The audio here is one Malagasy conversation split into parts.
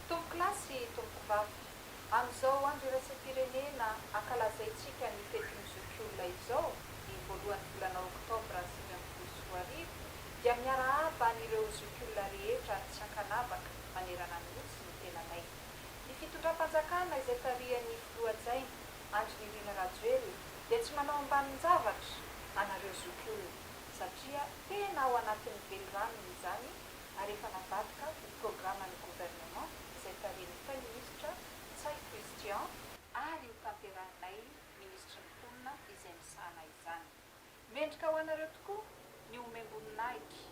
Tompoko lahy sy tompoko vavy, amin'izao andro iraisam-pirenena ankalazaintsika ny fetin'ny zokiolona izao, ny voalohan'ny volana oktobra sivy ambin'ny folo sy roa arivo, dia miarahaba an'ireo zokiolona rehetra tsy ankanavaka manerana ny Nosy ny tenanay. Ny fitondram-panjakana izay tarihan'ny Filoha hajaina, Andry Nirina Rajoelina, dia tsy manao ambanin-javatra anareo zokiolona, satria tena ao anatin'ny veliranony izany ary efa navadika ho programan'ny Gouvernement izay tarihin'ny Praiminisitra Ntsay Christian, ary hotanterahinay Minisitry ny Mponina izay misahana izany. Mendrika ho anareo tokoa ny homem-boninahitra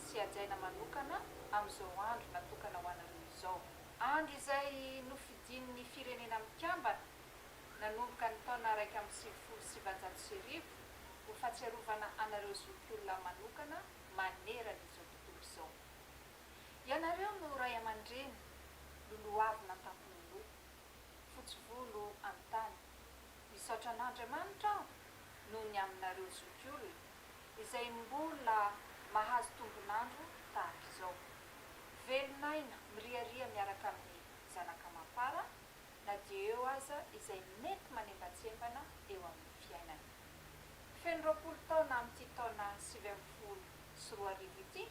sy hajaina manokana amin'izao andro natokana ho anareo izao, andro izay nofidin'ny Firenena Mikambana nanomboka ny taona iraika amby sivifolo sy sivanjato sy arivo ho fahatsiarovana anareo zokiolona manokana manerana izao toy izao, Ianareo no ray aman-dreny, lolohavina an-tampon'oloha, fotsy volo amin'ny tany. Misaotra an'Andriamanitra aho noho ny aminareo zokiolona izay mbola mahazo tombon'andro tahaka izao, velon'aina miriaria miaraka amin'ny zanaka amam-para na dia eo aza izay mety manembantsembana eo amin'ny fiainana. Feno roapolo taona amin'ity taona sivy ambin'ny folo sy roa arivo ity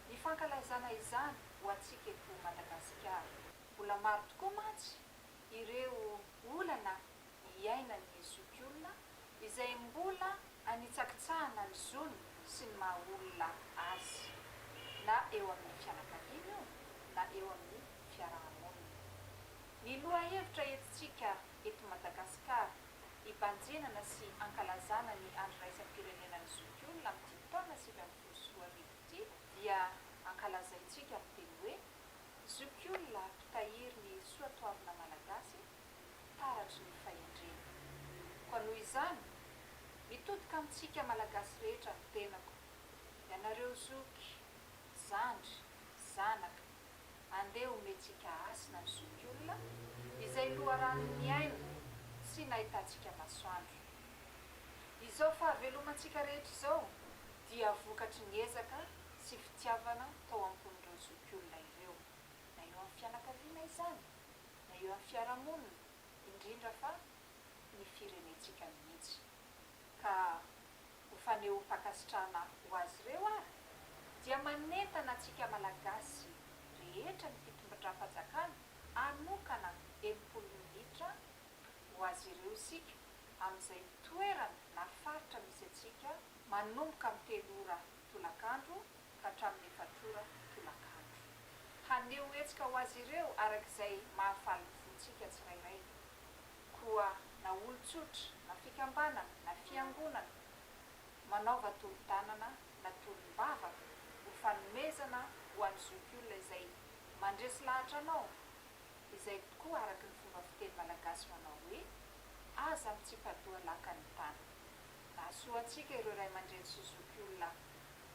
ny fankalazana izany ho antsika eto Madagasikara. Mbola maro tokoa mantsy ireo olana iainan'ny zokiolona izay mbola anitsakitsahana ny zony sy ny maha olona azy, na eo amin'ny fianakaviana io na eo amin'ny fiaraha-monina. Ny lohahevitra entintsika eto Madagasikara hibanjenana sy hankalazana ny Andro iraisam-pirenenan'ny zokiolona amin'ity taona sivy ambin'ny folo sy roa arivo ity dia ankalazaintsika amin'ny teny hoe, Zokiolona mpitahiry ny soatoavina malagasy taratry ny fahendrena. Koa noho izany, mitodika amintsika Malagasy rehetra ny tenako, ianareo zoky, zandry, zanaka, Andeha omentsika hasina ny zokiolona izay loharanon'ny niaina sy nahitantsika masoandro. Izao fahavelomantsika rehetra izao dia vokatry ny ezaka sy fitiavana tao am-pon'ireo zokiolona ireo, na eo amin'ny fianakaviana izany, na eo amin'ny fiarahamonina, indrindra fa ny firenentsika mihitsy. ka ho fanehoam-pankasitrahana ho azy ireo ary dia manentana antsika Malagasy rehetra ny fitombindram-panjakana hanokana enimpolo minitra ho azy ireo isika amin'izay toerana na faritra misy antsika manomboka amin'ny telo ora tolakandro ka hatramin'ny efatr'ora tolakandro. Haneho hetsika ho azy ireo araka izay mahafaly ny fontsika tsirairay. Koa na olon-tsotra, na fikambanana, na fiangonana, manaova tolo-tanana na tolom-bavaka ho fanomezana ho an'ny zokiolona izay mandresy lahatra anao, izay tokoa araka ny fomba fiteny malagasy manao hoe, Aza mitsipa-doha lakan'ny tany. Nahasoa antsika ireo ray aman-dreny sy zokiolona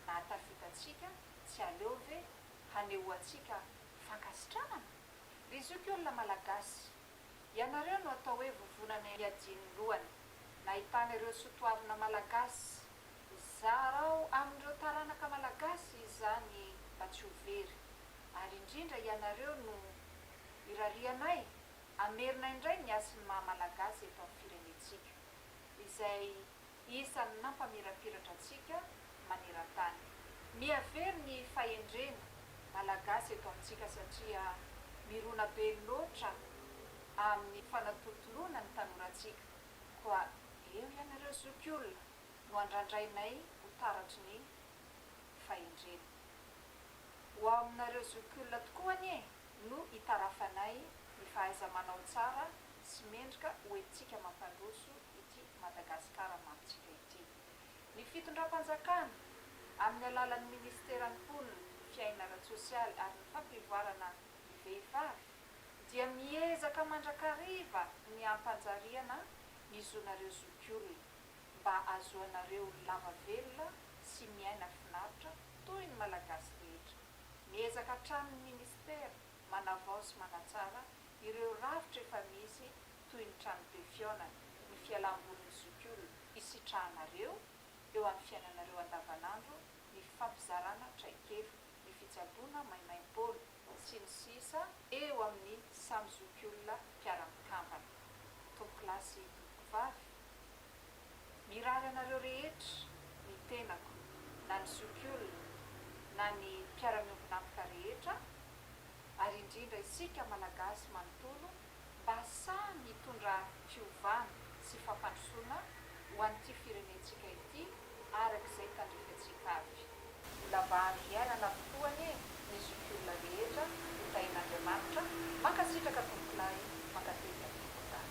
nahatafita antsika, tsy aleo ve hanehoantsika fankasitranana? Ry zokiolona malagasy! Ianareo no atao hoe vovonana hiajian'ny lohany. Nahitana ireo soatoavina malagasy. Zarao amin'ireo taranaka malagasy izany mba tsy ho very. Ary indrindra ianareo no irarianay hamerina indray ny hasin'ny maha-malagasy eto amin'ny firenentsika. Izay isan'ny nampamirapiratra antsika maneran-tany. Mihavery ny fahendrena Malagasy eto amintsika satria mirona be loatra amin'ny fanatolotoloana ny tanorantsika, koa eo ianareo zokiolona no andrandrainay ho taratry ny fahendrena. Ho ao aminareo zokiolona tokoa anie no itarafanay ny fahaiza-manao tsara sy mendrika hoentintsika mampandroso ity Madagasikara mantsika ity. Ny fitondram-panjakana, amin'ny alalan'ny minisiteran'ny Mponina, Fiainana ara-tsosialy ary ny fampivoarana ny vehivavy, dia miezaka mandrakariva ny hampanjariana ny zonareo zokiolona, mba hahazoanareo lava velona sy miaina finaritra toy ny Malagasy rehetra. Miezaka hatrany ny minisitera manavao sy manatsara ireo rafitra efa misy toy ny trano be fihaonana, ny fialam-bolin'ny zokiolona hisitrahanareo eo amin'ny fiainanareo andavanandro, ny fifampizarana traikefa, ny fitsaboana maimaim-poana, sy ny sisa eo amin'ny samy zokiolona mpiara-mikambana. Tomponklasy Tompokovavy, Mirary anareo rehetra, ny tenako, na ny zokiolona, na ny mpiara-miombon'antoka rehetra, ary indrindra isika Malagasy manontolo, mba sahy mitondra fiovana sy fampandrosoana ho an'ity firenentsika ity araka izay tandrefantsika avy. Mbola mba andro iainana avokoa anie ny zokiolona rehetra ho tahin'Andriamanitra, mankasitraka tompokolahy, mankatelina tompokolahy.